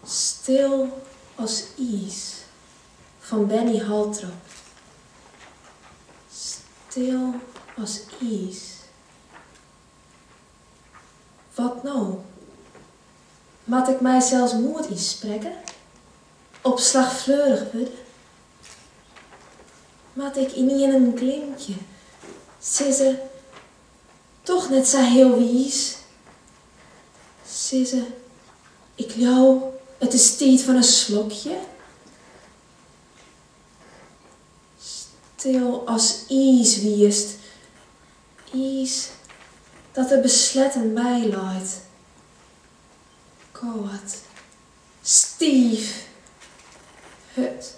Stil as iis fan Benny Holtrop. Stil as iis. Wat no? Moat ik mysels moed ynsprekke? Op slach fleurich wurde? Moat ik ynienen glimkje, sizze, doch net sa healwiis? Sizze, Ik leau, it is tiid foar in slokje. Stil as iis wiest, iis dat der besletten by leit. Kâld, stiif, hurd,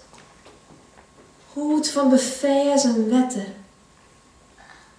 hûd fan beferzen wetter.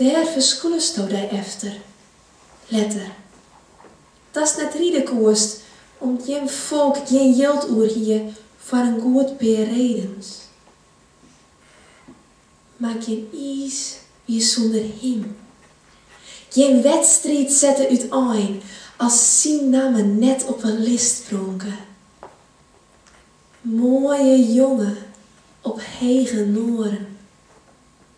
Dêr ferskûlesto dy efter, letter, datst net ride koest om't jim folk gjin jild oer hie foar in goed pear redens. Mar gjin iis wie sûnder him. Gjin wedstriid sette útein as syn namme net op 'e list pronke. Moaie jonge op hege noaren.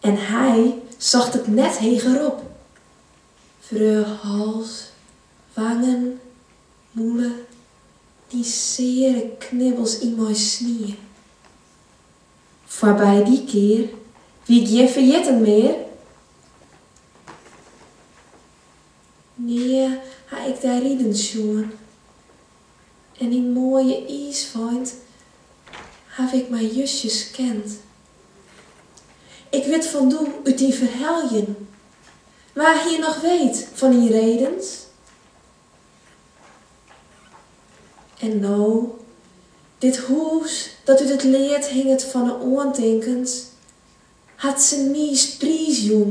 En hy socht it net hegerop. Wreau hals, wangen, mûle, dy seare knibbels yn mei snie. Foarby dy kear wie gjin ferjitten mear. Nea ha ik dy riden sjoen, En dy moaie iisfeint haw ik mar justjes kend. Ik wit fan doe út dyn ferheljen. Wa hie noch weet fan dyn redens? En no, dit hûs dat út it lead hinget fan 'e oantinkens, hat se niis priisjûn.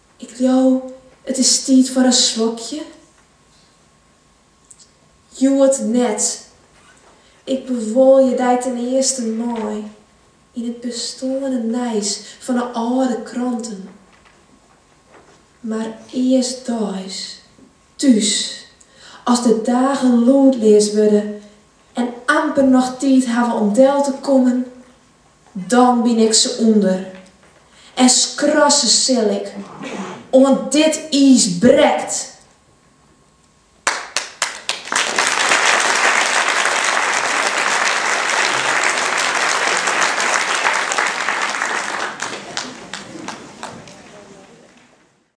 Ik leau, it is tiid foar in slokje. Hjoed net. Ik bewuolje dy ten earste mar yn it besteande nijs fan 'e âlde kranten. Mar earstdeis, thús, as de dagen lûdleas wurde en amper noch tiid hawwe om del te kommen Dan byn ik se ûnder en skrasse sil ik, oant dit iis brekt.